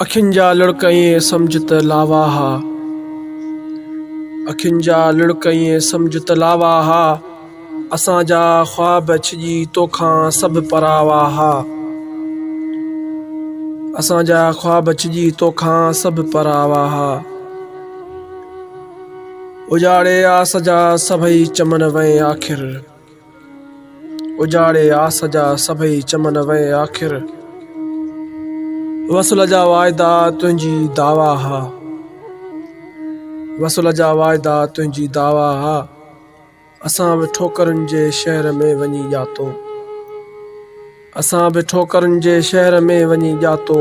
اکين جا لڙڪ ائين سمجهه ته لاوا ها اکين جا لڙڪ ائين سمجهه ته لاوا ها اسان جا خواب ڇڄي توکان سڀ پراوا ها اسان جا خواب ڇڄي توکان سڀ پراوا ها اجاڙي آس جا سڀئي چمن وئين آخر اجاڙي آس جا سڀئي چمن وئي آخر وصل جا واعدا تنهنجي دعويٰ ها وصل جا واعدا تنهنجي دعويٰ ها اسان به ٺوڪرن جي شهر ۾ وڃي ڄاتو اسان به ٺوڪرن جي شهر ۾ وڃي ڄاتو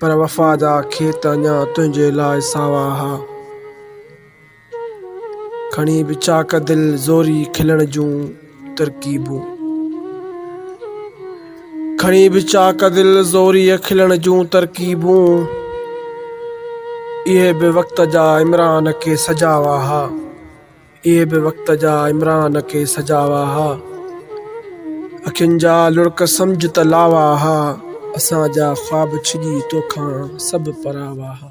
پر وفا جا کيت اڃا تنهنجي لاء ساوا ها. کڻي ويچاڪ دل زوري کلڻ جون ترڪيبون. کڻي ويچاڪ دل زوري کلڻ جون ترڪيبون. اهي به وقت جا عمران کي سجاوا ها. اهي به وقت جا عمران کي سجاوا ها اکين جا لڙڪ سمجهه ته لاوا ها اسان جا خواب ڇڄي توکان سڀ پراوا ها.